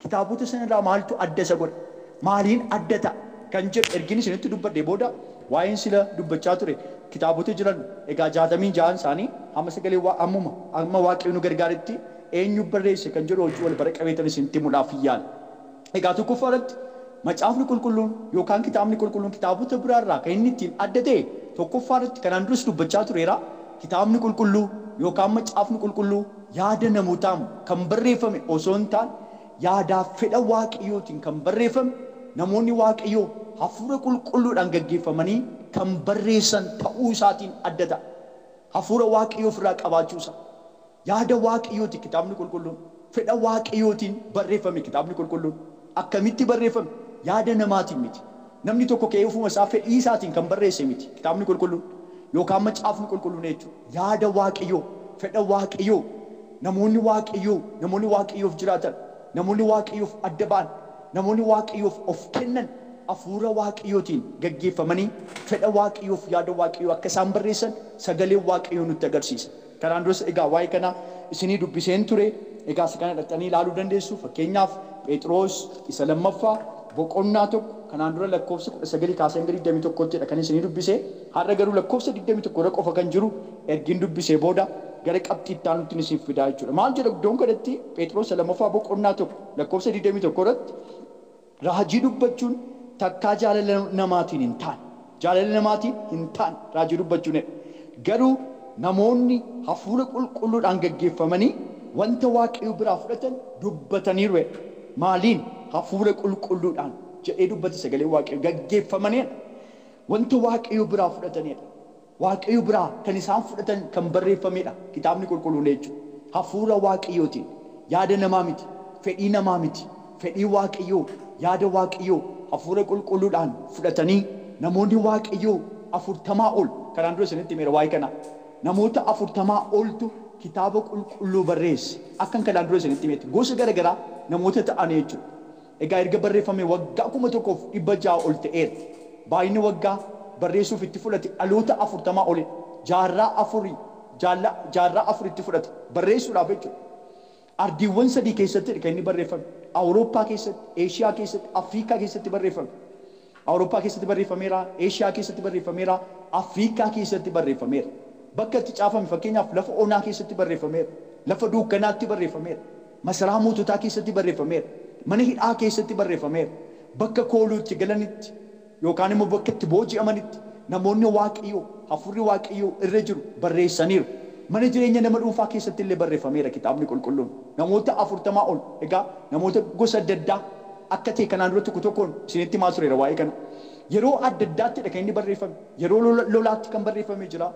Kitaabota sana irraa maaltu adda isa godha? Maaliin adda ta'a? Kan jedhu ergiin isinitti dubbadhee booda waa'een sila dubbachaa ture kitaabota jiran egaa jaatamii ja'an isaanii hamma sagalee waa ammuma amma Waaqayyo nu gargaaretti eenyu barreesse kan jedhu wajjin wal bara qabeetan isinitti himuudhaafin yaala. Egaa tokkoffaa irratti Macaafni Qulqulluun yookaan Kitaabni Qulqulluun kitaabota biraa irraa kan inni ittiin adda ta'e tokkoffaa irratti kanaan duras dubbachaa tureera Kitaabni Qulqulluu yookaan Macaafni Qulqulluu yaada namootaan kan barreeffame osoo hin taane, yaadaa fi fedha Waaqayyootiin kan barreeffame, namoonni Waaqayyoo hafuura qulqulluudhaan gaggeeffamanii kan barreessan ta'uu isaatiin adda ta'a. Hafuura Waaqayyoo of irraa qabaachuu isaa. Yaada Waaqayyooti Kitaabni Qulqulluun, fedha Waaqayyootiin barreeffame Kitaabni Qulqulluun. Akkamitti barreeffame? Yaada namaatiin miti. Namni tokko ka'ee ofuma isaa fedhii isaatiin kan barreesse miti Kitaabni Qulqulluun yookaan Macaafni Qulqulluun jechuudha. Yaada Waaqayyoo, fedha Waaqayyoo, namoonni Waaqayyoo, namoonni Waaqayyoof jiraatan, namoonni Waaqayyoof adda ba'an, namoonni Waaqayyoof of kennan Hafuura Waaqayyootiin gaggeeffamanii fedha Waaqayyoof yaada Waaqayyoo akka isaan barreessan Sagaleen Waaqayyoo nutti agarsiisa. Kanaan duras egaa waa'ee kanaa isinii dubbiseen ture, egaa isa kana dhaqxanii ilaaluu dandeessu, fakkeenyaaf Pheexiroos isa lammaffaa boqonnaa 1, kanaan dura lakkoofsa 19 kaasee hanga 21tti dha kanin isinii dubbise, har'a garuu lakkoofsa 21 irra qofa kan jiru ergin dubbisee booda gara qabxii itti aanuttin isin fidaa jechuudha. Maal jedha iddoon kanatti Pheexiroos isa lammaffaa boqonnaa 1 lakkoofsa 21 irratti? Raajii dubbachuun takkaa jaalala namaatiin hin taane. Jaalala namaatiin hin taane raajii dubbachuun jedha. Garuu namoonni hafuura qulqulluudhaan gaggeeffamanii wanta Waaqayyo biraa fudhatan dubbataniiru jedha. Maaliin? Hafuura qulqulluudhaan jedhee dubbate sagaleen Waaqayyoo. Gaggeeffamanii jedha. Wanta Waaqayyo biraa fudhatanii jedha. Waaqayyo biraa kan isaan fudhatan kan barreeffamee dha. Kitaabni Qulqulluun eecu. Hafuura Waaqayyootiin. Yaada namaa miti. Fedhii namaa miti. Fedhii Waaqayyoo, yaada Waaqayyoo Hafuura Qulqulluudhaan fudhatanii namoonni Waaqayyoo afurtamaa ol, kanaan dura isinitti himeera waa'ee kanaa. Namoota afurtamaa oltu Kitaaba Qulqulluu barreesse. Akkan kanaan dura isinitti himetti gosa gara garaa namoota ta'anii jechuudha. Egaa erga barreeffamee waggaa 1600 ol ta'eera. Baay'inni waggaa barreessuuf itti fudhate dhaloota 40 olidha. Jaarraa afur jaalla jaarraa afur itti fudhate barreessuudhaaf jechuudha. Ardiiwwan sadii keessattidha kan inni barreeffame. Awurooppaa keessatti, Eeshiyaa keessatti, Afriikaa keessatti barreeffame. Awurooppaa keessatti barreeffameera, Eeshiyaa keessatti barreeffameera, Afriikaa keessatti barreeffameera. Bakka itti caafame fakkeenyaaf lafa onaa keessatti barreeffameera. Lafa duukkanaatti barreeffameera. Masaraa moototaa keessatti barreeffameera. Mana hidhaa keessatti barreeffameera. Bakka kooluu itti galanitti yookaan immoo bakka itti booji'amanitti namoonni Waaqayyoo, Hafuurri Waaqayyoo irra jiru barreessaniiru. Mana jireenya nama dhuunfaa keessatti illee barreeffameera Kitaabni Qulqulluun. Namoota 40 ol, egaa namoota gosa adda addaa akka ta'e kanaan dura tokko tokkoon isinitti himaa tureera waa'ee kana. Yeroo adda addaatti dha kan inni barreeffame. Yeroo lola, lolaatti kan barreeffame jira,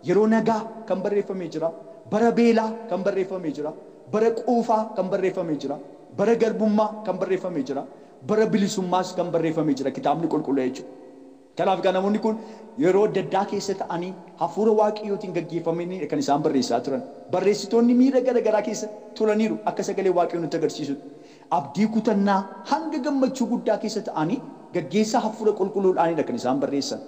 yeroo nagaa kan barreeffame jira, bara beelaa kan barreeffame jira, Bara quufaa kan barreeffame jira, bara garbummaa kan barreeffame jira, bara bilisummaas kan barreeffame jira kitaabni qulqulluu jechuudha. Kanaaf egaa namoonni kun yeroo adda addaa keessa ta'anii hafuura Waaqayyootiin gaggeeffamaniidha kan isaan barreessaa turan. Barreessitoonni miira gara garaa keessa turaniiru akka sagaleen Waaqayyoo nutti agarsiisutti. Abdii kutannaa hanga gammachuu guddaa keessa ta'anii gaggeessaa hafuura qulqulluudhaanidha kan isaan barreessan.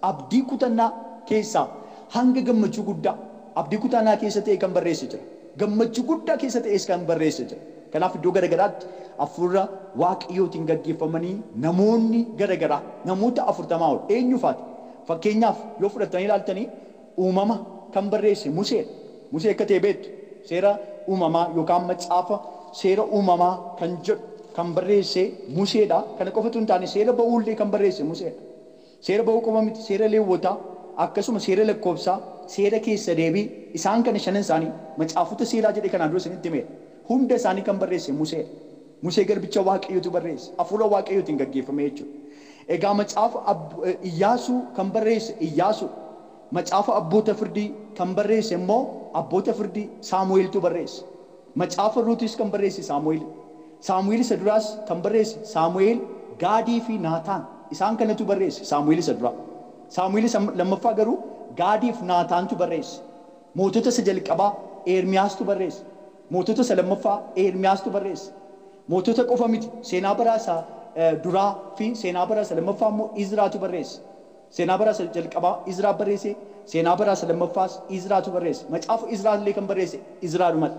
Abdii kutannaa keessaa hanga gammachuu guddaa abdii kutaanaa keessa ta'e kan barreesse jira. Gammachuu guddaa keessa ta'ees kan barreesse jira. Kanaaf iddoo gara garaatti Hafuura Waaqayyootiin gaggeeffamanii namoonni gara garaa namoota 40 ol eenyu faati? Fakkeenyaaf yoo fudhattanii ilaaltanii Uumama kan barreesse Musee dha. Musee akka ta'e beektu. Seera Uumamaa yookaan Macaafa Seera Uumamaa kan jedhu kan barreesse Musee dha. Kana qofa utuu hin taane Seera Ba'uu illee kan barreesse Musee dha. Seera ba'uu qofa miti, seera Leewwotaa, akkasuma seera lakkoofsaa, seera keessa deebii, isaan kana shanan isaanii macaafota seeraa jedhee kanaan dura isinitti himeera. Hunda isaanii kan barreesse Musee dha. Musee garbicha Waaqayyootu barreesse, hafuura Waaqayyootiin gaggeeffamee jechuu dha. Egaa macaafa Ab, Iyyaasuu kan barreesse Iyyaasuu dha. Macaafa Abboota Firdii kan barreesse immoo Abboota Firdii, Saamu'eeltu barreesse. Macaafa Ruutis kan barreesse Saamu'eeli. Saamu'eel isa duraas kan barreesse Saamu'eel, Gaadii fi Naataan. Isaan kanatu barreesse Saamu'eel isa duraa. Saamu'eel isa lammaffaa garuu Gaadii fi Naataantu barreesse. Mootota isa jalqabaa Eermiyaastu barreesse. Mootota isa lammaffaa Eermiyaastu barreesse. Mootota qofa miti, Seenaa Bara isa Duraa fi Seenaa Bara isa Lammaffaa immoo Izraatu barreesse. Seenaa bara isa jalqabaa Izraa barreesse, seenaa bara isa lammaffaas Izraatu barreesse. Macaafa Izraa illee kan barreesse Izraadhuma dha.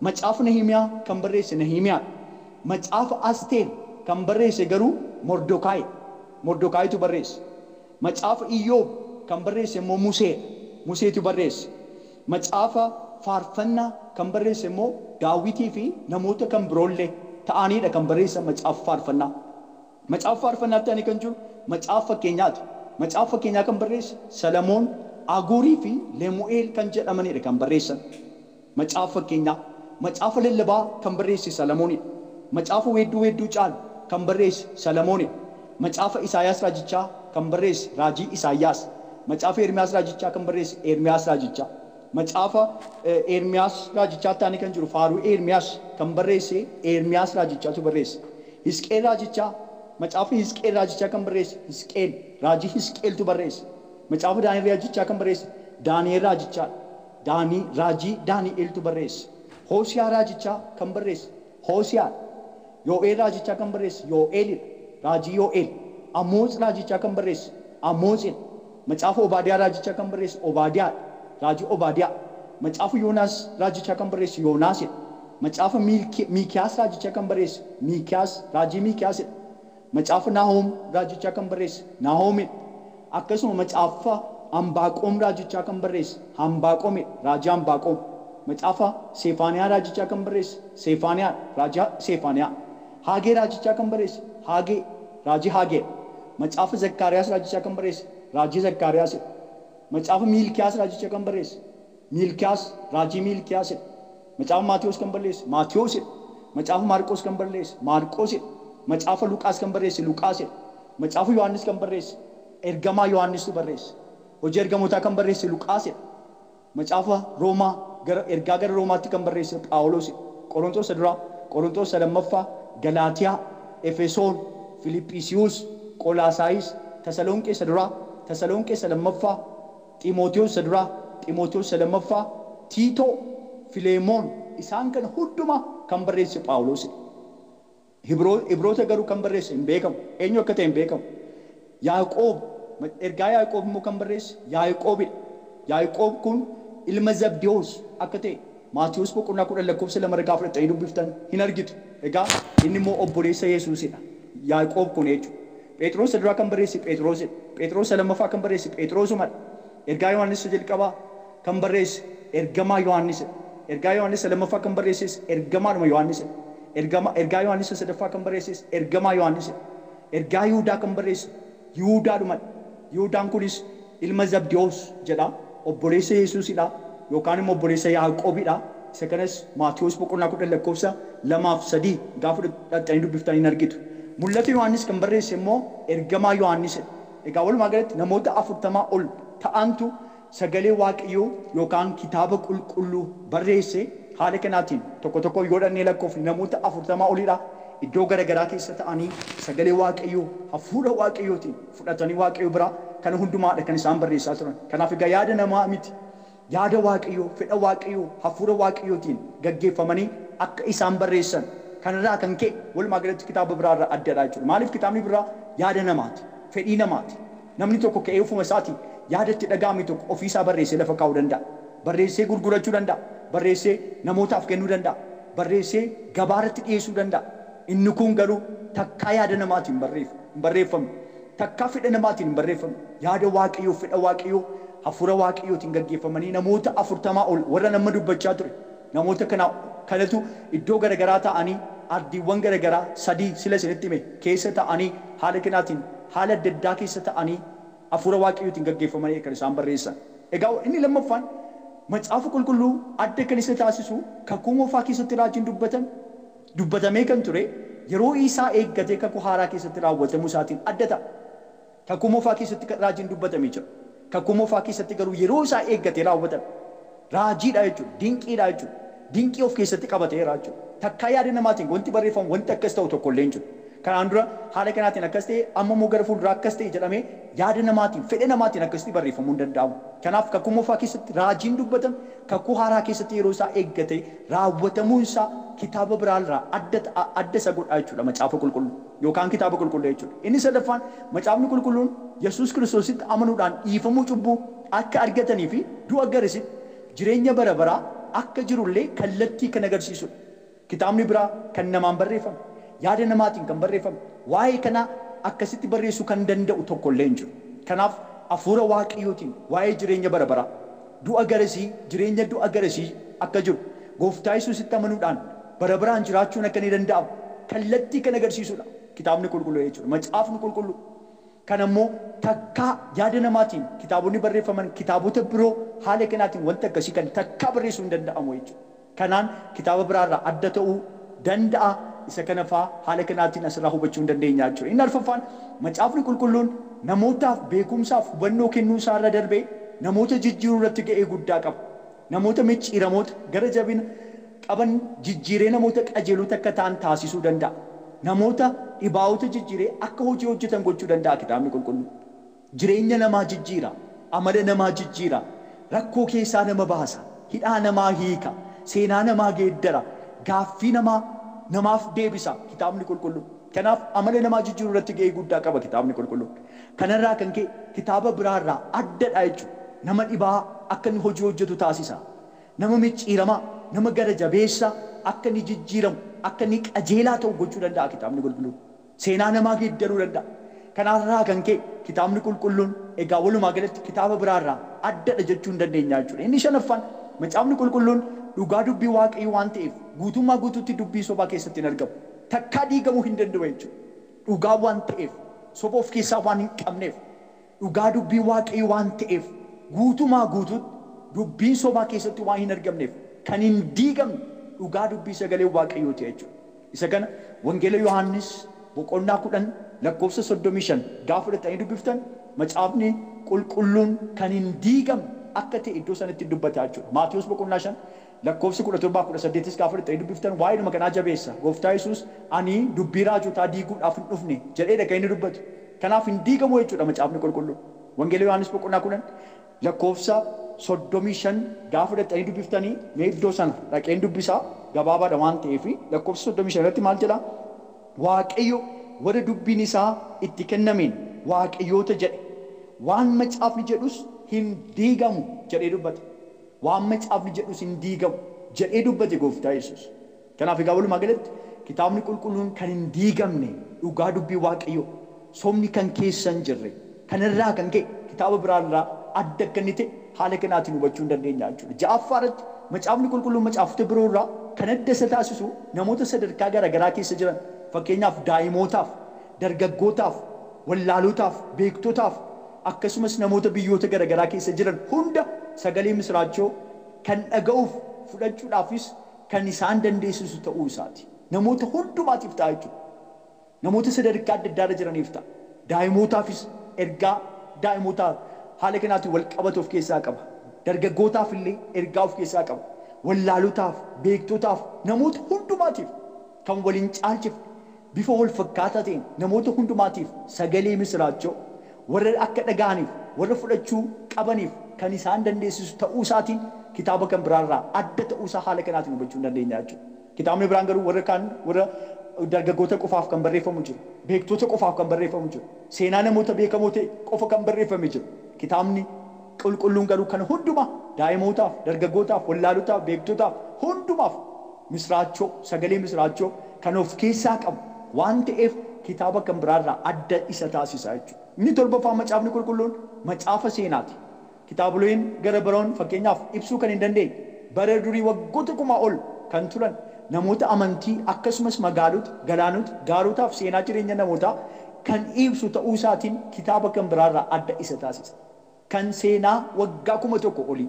Macaafa Nahimiyaa kan barreesse Nahimiyaa dha. Macaafa Asteer kan barreesse garuu Mordokaayi dha. Mordokaayitu barreesse. Macaafa Iyyoob kan barreesse immoo Musee dha. Museetu barreesse. Macaafa Faarfannaa kan barreesse immoo Daawwitii fi namoota kan biroo illee ta'anii dha kan barreessan Macaafa Faarfannaa. Macaafa Faarfannaatti aanee kan jiru Macaafa Fakkeenyaati. Macaafa Fakkeenyaa kan barreesse Salamoon, Aguurii fi Lemu'eel kan jedhamani dha kan barreessan. Macaafa Fakkeenyaa. Macaafa Lallabaa kan barreesse Salamooni dha. Macaafa Weedduu Weedduu Caalu kan barreesse Salamooni dha. Macaafa Isaayaas Raajichaa kan barreesse Raajii Isaayyaas. Macaafa Ermiyaas Raajichaa kan barreesse Ermiyaas Raajichaa. Macaafa Eermiyaas raajichaatti aanee kan jiru faaruu Eermiyaas kan barreesse Eermiyaas raajichatu barreesse. Hisqi'el raajichaa Macaafa Hisqi'el raajichaa kan barreesse Hisqi'el raajii Hisqi'eltu barreesse. Macaafa Daani'el raajichaa kan barreesse Daani'el raajichaadha. Daanii raajii Daani'eltu barreesse. Hoosiyaa raajichaa kan barreesse Hoosiyaa dha. Yoo'eel raajichaa kan barreesse Yoo'eeli dha, raajii Yoo'eel. Amootz raajichaa kan barreesse Amootzi dha. Macaafa Obaadiyaa raajichaa kan barreesse Obaadiyaa dha, raajii Obaadiyaa. Macaafa Yoonaas raajichaa kan barreesse Yoonaasi dha. Macaafa Miilki, Miikiyaas raajichaa kan barreesse Miikiyaas, raajii Miikiyaasi dha. Macaafa Naahoom raajichaa kan barreesse Naahoomidha. Akkasuma macaafa Ambaaqoom raajichaa kan barreesse Hambaaqoomidha, raajii Hambaaqoom. Macaafa Seefaaniyaa raajichaa kan barreesse Seefaaniyaadha, raajii Seefaaniyaa. Haagee raajichaa kan barreesse Haagee, raajii Haageedha. Macaafa Zakkaariyaas raajichaa kan barreesse raajii Zakkaariyaasidha. Macaafa Miilkiyaas raajichaa kan barreesse Miilkiyaas, raajii Miilkiyaasidha. Macaafa Maatewos kan balleesse Maatewosidha. Macaafa Maarqos kan balleesse Maarqosidha. Macaafa Luqaas kan barreesse Luqaasidha. Macaafa Yohaannis kan barreesse ergamaa Yohaannistuu barreesse. Hojii Ergamootaa kan barreesse Luqaasidha. Macaafa Roomaa gara ergaa gara Roomaatti kan barreesse Phaawulosidha. Qoronxoos isa duraa, Qoronxoos isa lammaffaa, Galaatiyaa, Efesoon, Filiphisiiyuus, Qolaasaayis, Tasaloonqee isa duraa, Tasaloonqee isa lammaffaa, Ximotewos isa duraa, Ximotewos isa lammaffaa, Tiitoo, Fileemoon, isaan kana hundumaa kan barreesse Phaawulosidha. Hibroo, Ibroota garuu kan barreesse hin beekamu. Eenyu akka ta'e hin beekamu. Yaaqoob, mac, ergaa Yaaqoob immoo kan barreesse Yaaqoobidha. Yaaqoob kun ilma Zabdewos akka ta'e Maatewos boqonnaa 10 lakkoofsa 2 irra gaafa dhaqxanii dubbiftan hin argitu. Egaa inni immoo obboleessa Yesuusidha. Yaaqoob kun jechuudha. Pheexiroos isa duraa kan barreesse Pheexiroosidha. Pheexiroos isa lammaffaa kan barreesse Pheexiroosumadha. Ergaa Yohaannis isa jalqabaa kan barreesse ergamaa Yohaannisidha. Ergaa Yohaannis isa lammaffaa kan barreesses ergamaadhuma Yohaannisidha. Ergama, ergaa Yohaannis isa sadaffaa kan barreesses ergamaa Yohaannisidha. Ergaa Yihudaa kan barreesse Yihudaadhumadha. Yihudaan kunis ilma Zabdiwoos jedha, obboleessa Yesuus dha, yookaan immoo obboleessa Yaaqoob dha, isa kanas Maatewos boqonnaa 10 lakkoofsa 2 fi 3 gaafa dhaqxanii dubbiftan in argitu. Mul'ata Yohaannis kan barreesse immoo ergamaa Yohaannis dha. Egaa walumaa galatti namoota 40 ol ta'antu sagalee Waaqayyoo yookaan kitaaba qulqulluu barreesse, haala kanaatiin tokko tokkoon yoo dhaqnee lakkoofne namoota 40 oli dha, iddoo gara garaa keessa ta'anii sagalee Waaqayyoo hafuura Waaqayyootiin, fudhatanii Waaqayyo biraa kana hundumaa dha kan isaan barreessaa turan. Kanaaf egaa yaada namaa miti, yaada Waaqayyoo, fedha Waaqayyoo, hafuura Waaqayyootiin gaggeeffamanii akka isaan barreessan kana irraa kan ka'e walumaa galatti kitaaba biraa irraa adda dha jechuudha. Maaliif kitaabni birraa yaada namaa ti, fedhii namaa ti. Namni tokko ka'ee ofuma isaatii yaada itti dhaga'ame tokko ofii isaa barreessee lafa kaa'uu danda'a. Barreessee gurgurachuu danda'a. Barreessee namootaaf kennuu danda'a. Barreessee gabaa irratti dhiyeessuu danda'a. Inni kuun garuu takkaa yaada namaa tiin hin barreefne. hin barreeffamu. Takkaa fedha namaatiin hin barreeffamu. Yaada Waaqayyoof fedha Waaqayyoo Hafuura Waaqayyootiin gaggeeffamanii namoota afurtamaa ol warran amma dubbachaa ture namoota kana kanatu iddoo gara garaa taa'anii ardiiwwan gara garaa sadii sila isinitti hime keessa taa'anii haala kanaatiin haala adda addaa keessa ta'anii Hafuura Waaqayyootiin gaggeeffamanii kan isaan barreessan. Egaa inni lammaffaan Macaafa Qulqulluu adda kan isa taasisu Kakuu Moofaa keessatti raajiin dubbatame Dubbatamee kan ture yeroo isaa eeggatee Kakuu Haaraa keessatti raawwatamuu isaatiin adda ta'a. Kakuu Moofaa keessatti kan raajiin dubbatamee jira. Kakuu Moofaa keessatti garuu yeroo isaa eeggatee raawwatame. Raajiidha jechuudha. Dinqiidha jechuudha. Dinqii of keessatti qabateera jechuudha. Takkaa yaada namaatiin wanti barreeffamu wanti akkas ta'u tokko illee hin jiru. Kanaan dura haala kanaatiin akkas ta'e, amma immoo gara fuulduraa akkas ta'e jedhamee yaada namaatiin, fedha namaatiin akkasitti barreeffamuu hin danda'amu. Kanaaf Kakuu Moofaa keessatti raajiin dubbatame Kakuu Haaraa keessatti yeroo isaa eeggatee raawwatamuun isaa kitaaba biraa irraa adda ta'a, adda isa godha jechuu dha, Macaafa Qulqulluu yookaan Kitaaba Qulqulluu jechuu dha. Inni sadaffaan, Macaafni Qulqulluun Yesuus Kiristoositti amanuudhaan dhiifamuu cubbuu akka argatanii fi du'a garisitti jireenya bara baraa akka jiru illee kallattii kan agarsiisu dha. Kitaabni biraa kan namaan barreeffame, yaada namaatiin kan barreeffame, waa'ee kanaa akkasitti barreessuu kan danda'u tokko illee hin jiru. Kanaaf, Hafuura Waaqayyootiin waa'ee jireenya bara baraa. Du'a garasii, jireenya du'a garasii akka jiru, Gooftaa Yesuusitti amanuudhaan bara baraan jiraachuun akka ni danda'amu kallattii kan agarsiisudha Kitaabni Qulqullu'e jechuudha. Macaafni Qulqulluu kana immoo takkaa yaada namaatiin kitaabonni barreeffaman kitaabota biroo haala kanaatiin wanta akkasii kan takkaa barreessuun hin danda'amu jechuudha. kanaan kitaaba biraa irraa adda ta'uu danda'a, isa kana faa haala kanaatiin as irraa hubachuu in dandeenya jechuudha. Inni arfaffaan Macaafni Qulqulluun namootaaf beekumsaaf hubannoo kennuu isaa irra darbee namoota jijjiiruu irratti ga'ee guddaa qaba. Namoota micciiramoota, gara jabina, qaban jijjiiree namoota qajeelota akka ta'an taasisuu danda'a. Namoota dhibaa'ota jijjiiree akka hojii hojjetan gochuu danda'a Kitaabni Qulqulluun. Jireenya namaa jijjiira. Amala namaa jijjiira. Rakkoo keessaa nama baasa. Hidhaa namaa hiika. Seenaa namaa geeddara. Gaaffii namaa namaaf deebisa Kitaabni Qulqulluun. Kanaaf amala namaa jijjiiruu irratti ga'ee guddaa qaba Kitaabni Qulqulluun. Kana irraa kan ka'e kitaaba biraa irraa adda dha jechuudha. Nama dhibaa'aa akka inni hojii hojjetu taasisa. Nama micciiramaa, nama gara jabeessa akka inni jijjiiramu, akka inni qajeelaa ta'u gochuu danda'a Kitaabni Qulqulluun. Seenaa namaa geeddaruu danda'a. Kanarraa kan ka'e Kitaabni Qulqulluun egaa walumaa galatti kitaaba biraarraa addadha jechuu ni dandeenya jechuudha. Inni shanaffaan, Macaafni Qulqulluun dhugaa Dubbii Waaqayyoo waan ta'eef guutummaa guutuutti dubbii sobaa keessatti hin argamu. Takkaa diigamuu hin danda'u jechuudha. Dhugaa waan ta'eef, soba of keessaa waan hin qabneef. Dhugaa dubbii Waaqayyo waan ta'eef guutumaa guutuutti dubbiin sobaa keessatti waan hin argamneef kan hin diigamne dhugaa dubbii sagalee Waaqayyoo ti jechuu dha. Isa kana wangeela Yohaannis boqonnaa 10 lakkoofsa 35 gaafa fudhattanii dubbiftan macaafni qulqulluun kan hin diigamne akka ta'e iddoo sanatti in dubbata jechuu dha. Maatewos boqonnaa 5 Lakkoofsi 17 fi 18s gaafa dhixxanii dubbiftan waa'eedhuma kanaa jabeessa. Gooftaa Yesuus ani dubbii raajotaa diiguudhaaf hin dhufne jedheedha kan inni dubbatu. Kanaaf hin diigamu jechuudha macaafni qulqulluun. Wangeela Yohaannis boqonnaa 10 lakkoofsa 35 gaafa dhaqxanii dubbiftanii mee iddoo sana dhaqeen dubbisa gabaabaadha waan ta'eef lakkoofsa 35 irratti maal jedha Waaqayyo warra dubbiin isaa itti kennameen waaqayyoota jedhe waan macaafni jedhus hin diigamu jedhee dubbata. Waan Macaafni jedhus hin diigamu jedhee dubbate Gooftaa Yesuus. Kanaaf egaa walumaa galatti Kitaabni Qulqulluun kan hin diigamne dhugaa Dubbii Waaqayyoo dha. Sobni kan keessa hin jirre. Kana irraa kan ka'e kitaaba biraa irraa adda akka inni ta'e haala kanaatiin hubachuu ni dandeenya jechuu dha. Ja'affaa irratti Macaafni Qulqulluun macaafota biroo irraa kan adda isa taasisu namoota sadarkaa garaagaraa keessa jiran fakkeenyaaf daa'imootaaf Dargaggootaaf, wallaalootaaf, beektotaaf, akkasumas namoota biyyoota garagaraa keessa jiran hunda sagalee misiraachoo kan dhaga'uuf, fudhachuudhaafis kan isaan dandeessisu ta'uu isaati. Namoota hundumaatiif ta'a jechuudha. Namoota sadarkaa adda addaa irra jiraniif ta'a. Daa'imootaafis ergaa daa'imootaa haala kanaatiin wal qabatu of keessaa qaba. Dargaggootaaf illee ergaa of keessaa qaba. Wallaalootaaf, beektotaaf, namoota hundumaatiif. kan wal hin caalchifne, bifa wal fakkaataa ta'een namoota hundumaatiif sagalee misiraachoo, warra akka dhaga'aniif, warra fudhachuu qabaniif kan isaan dandeessisu ta'uu isaatiin kitaaba kan biraa irraa adda ta'uu isaa haala kanaatiin hubachuu ni dandeenya jechuu dha. Kitaabni biraan garuu warra kaan warra dargaggoota qofaaf kan barreeffamu jira, beektoota qofaaf kan barreeffamu jira, seenaa namoota beekamoo ta'e qofa kan barreeffame jira. Kitaabni. Qulqulluun garuu kana hundumaa daa'imootaaf, dargaggootaaf, wallaalotaaf, beektotaaf, hundumaaf misraachoo, sagalee misraachoo kan of keessaa qabu waan ta'eef kitaaba kan biraa irraa adda isa taasisa jechuudha. Inni torbaffaan macaafni qulqulluun macaafa seenaati. Kitaaboleen gara baraoon fakkeenyaaf ibsuu kan hin dandeenye, bara durii waggoota kumaa ol kan turan, namoota amantii akkasumas magaalota, galaanota, gaarotaaf seenaa jireenya namootaa kan iibsu ta'uu isaatiin kitaaba kan biraa irraa adda isa taasisa. kan seenaa waggaa 1000 olii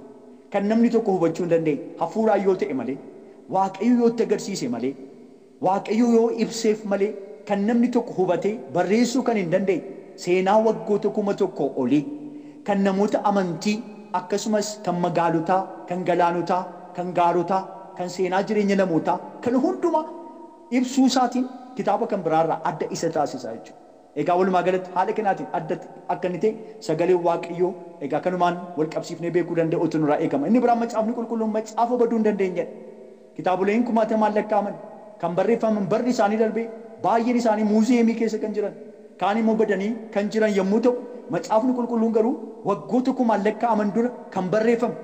kan namni tokko hubachuu hin dandeenye hafuuraan yoo ta'e malee, Waaqayyo yoo itti agarsiise malee, Waaqayyo yoo ibseef malee kan namni tokko hubatee barreessuu kan hin dandeenye seenaa waggoota 1000 olii kan namoota amantii akkasumas kan magaalotaa, kan galaanotaa, kan gaarotaa, kan seenaa jireenya namootaa kana hundumaa ibsuu isaatiin kitaaba kan biraa irraa adda isa taasisa jechuudha. Egaa walumaa galatti haala kanaatiin adda akka inni ta'e sagaleen Waaqayyoo egaa kanumaan wal qabsiifnee beekuu danda'uutu nurraa eegama. Inni biraan macaafni qulqulluun macaafa baduu hin dandeenyedha. Kitaaboleen kumaatamaan lakkaa'aman kan barreeffaman barri isaanii darbee baay'een isaanii muuziyeemii keessa kan jiran kaan immoo badanii kan jiran yommuu ta'u macaafni qulqulluun garuu waggoota kumaan lakkaa'aman dura kan barreeffame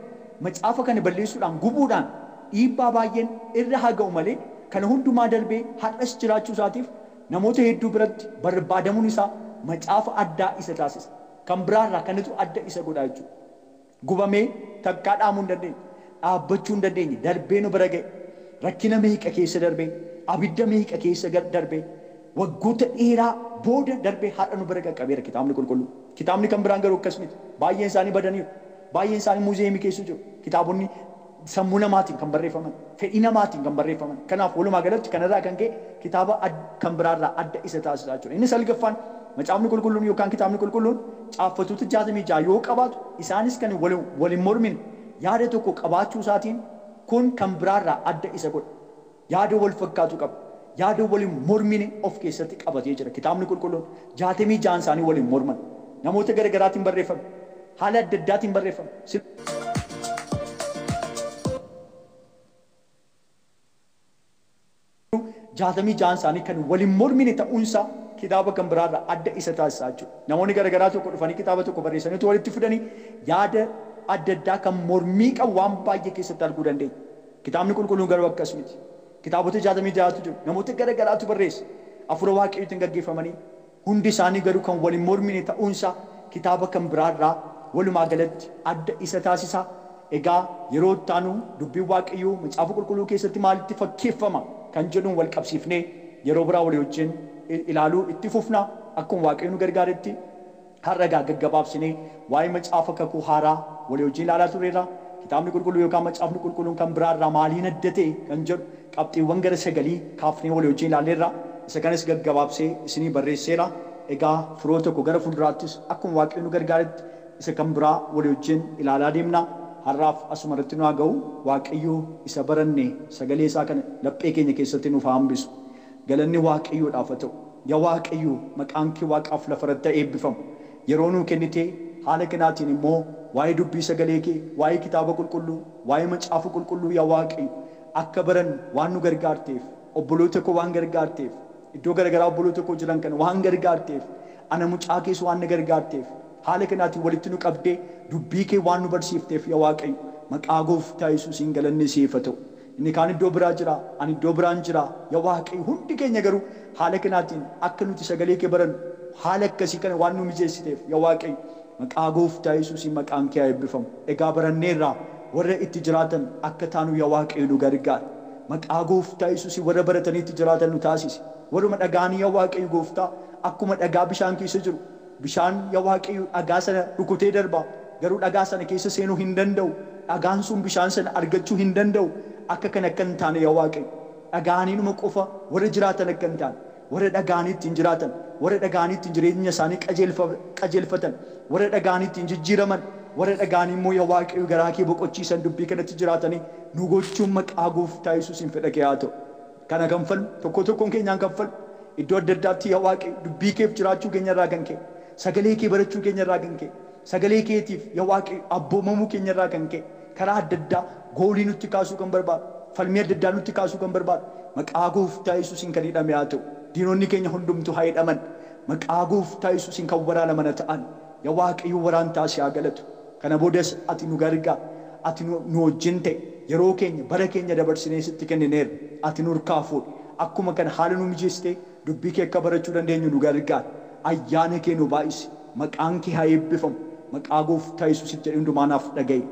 macaafa kana balleessuudhaan gubuudhaan dhiibbaa baay'een irra haa ga'u malee kana hundumaa darbee har'as jiraachuu isaatiif Namoota hedduu biratti barbaadamuun isaa macaafa addaa isa taasisa. Kan biraa irraa kanatu adda isa godha jechuudha. Gubamee takkaa dhaamuu hin dandeenye, dhaabbachuu hin dandeenye, darbee nu bira ga'e, rakkina meeqa keessa darbee, abidda meeqa keessa darbee, waggoota dheeraa booda darbee har'a nu bira qaqqabeera Kitaabni Qulqulluun. Kitaabni kan biraan garuu akkas miti. Baay'een isaanii badaniiru. Baay'een isaanii muuziyeemii keessa jiru. Kitaabonni. sammuu namaatiin kan barreeffaman, fedhii namaatiin kan barreeffaman. Kanaaf walumaa galatti kana irraa kan ka'e kitaaba kan biraa irraa adda isa taasisa jechuudha. Inni salgaffaan Macaafni Qulqulluun yookaan Kitaabni Qulqulluun caaffatoota 66 yoo qabaatu isaanis kan wal hin mormine yaada tokko qabaachuu isaatiin kun kan biraa irraa adda isa godha. yaada wal fakkaatu qaba. Yaada wal hin mormine of keessatti qabatee jira. Kitaabni Qulqulluun 66n isaanii wal hin morman. Namoota gara garaatiin barreeffame. Haala adda addaatiin barreeffame. Silumayyuu 66n isaanii kan wal hin mormine ta'uun isaa kitaaba kan biraa irraa adda isa taasisa jechuudha. Namoonni gara garaa tokko dhufanii kitaaba tokko barreessanii utuu walitti fidanii yaada adda addaa kan mormii qabu waan baay'ee keessatti arguu dandeenya. Kitaabni Qulqulluun garuu akkas miti. Kitaabota 66tu jiru. Namoota gara garaatu barreesse. Hafuura Waaqayyootiin gaggeeffamanii, hundi isaanii garuu kan wal hin mormine ta'uun isaa kitaaba kan biraa irraa walumaa galatti adda isa taasisa. Egaa yeroo itti aanu Dubbiin Waaqayyoo Macaafa Qulqulluu keessatti maalitti fakkeeffama kan jedhuun wal qabsiifnee yeroo biraa walii wajjin ilaaluu itti fufna akkuma Waaqayyo nu gargaaretti. Har'a egaa gaggabaabsinee waa'ee Macaafa Kakuu Haaraa walii wajjin ilaalaa turreerra. Kitaabni Qulqulluu yookaan Macaafni Qulqulluun kan biraa irraa maaliin adda ta'e kan jedhu qabxiiwwan gara sagalii kaafnee walii wajjin ilaalleerra. Isa kanas gaggabaabsee isinii barreesseera. Egaa firoota koo gara fuulduraattis akkuma Waaqayyo nu gargaaretti isa kan biraa walii wajjin ilaalaa deemna. Har'aaf asuma irratti nu haa ga'u. Waaqayyo isa baranne sagalee isaa kana laphee keenya keessatti nuuf haa hambisu. Galanni waaqayyoodhaaf haa ta'u. Yaa waaqayyo maqaan kee waaqaaf lafarratti haa eebbifamu. Yeroo nuu kennitee haala kanaatiin immoo waa'ee dubbii sagalee kee, waa'ee kitaaba qulqulluu, waa'ee macaafa qulqulluu yaa waaqayyo akka barannu waan nu gargaarteef, obboloota koo waan gargaarteef, iddoo garagaraa obboloota koo jiran kana waan gargaarteef, ana mucaa kees waan na gargaarteef, haala kanaatiin walitti nu qabdee dubbii kee waan nu barsiifteef yaa waaqayyo maqaa gooftaa yesuusiin galanni siif haa ta'u. Inni kaan iddoo biraa jira, ani iddoo biraan jira. Yaa Waaqayyo, hundi keenya garuu haala kanaatiin akka nuti sagalee kee barannu haala akkasii kana waan nuu mijeessiteef yaa Waaqayyo, maqaa gooftaa Yesuusiin maqaan kee haa eebbifamu. Egaa baranneerraa warra itti jiraatan akka taanu yaa Waaqayyo nu gargaari. Maqaa gooftaa Yesuusiin warra baratanii itti jiraatan nu taasisi. Warruma dhaga'anii yaa Waaqayyo gooftaa akkuma dhagaa bishaan keessa jiru, Bishaan, Yaa Waaqayyo, dhagaa sana rukutee darba, garuu dhagaa sana keessa seenuu hin danda'u, dhagaan sun bishaan sana argachuu hin danda'u. Akka kana akka hin taane yaa Waaqayyo, dhaga'aniinuma qofa warra jiraatan akka hin taane, warra dhaga'anii ittiin jiraatan, warra dhaga'anii ittiin jireenya isaanii qajeelfa, qajeelfatan, warra dhaga'anii ittiin jijjiiraman, warra dhaga'anii immoo yaa Waaqayyo garaa kee boqochiisan dubbii kanatti jiraatanii nu gochuun maqaa Gooftaa Yesuusiin fedha kee haa ta'u. kana kanfallu, tokkoo tokkoon keenyaan kanfallu, iddoo adda addaatti yaa Waaqayyo dubbii keef jiraachuu keenya irraa kan ka'e, sagalee kee barachuu keenya irraa kan ka'e, sagalee keetiif yaa Waaqayyo abboomamuu keenya irraa kan ka'e, karaa adda addaa goolii nutti kaasuu kan barbaadu, falmii adda addaa nutti kaasuu kan barbaadu, maqaa gooftaa Yesuusiin kan hidhame haa ta'u. Diinonni keenya hundumtuu haa hidhaman. Maqaa gooftaa Yesuusiin kan waraanaman haa ta'an. Yaa Waaqayyo waraantaa si haa galatu. Kana boodas ati nu gargaar. Ati nu nu wajjin ta'i. Yeroo keenya, bara keenya dabarsinee sitti kennineerra. Ati nurkaa fuudhi. Akkuma kana haala nu mijeessitee dubbii kee akka barachuu dandeenyu nu gargaari. Ayyaana kee nu baay'isi. Maqaan kee haa eebbifamu. Maqaa Gooftaa Yesuusiif jedhii hundumaa naaf dhaga'i.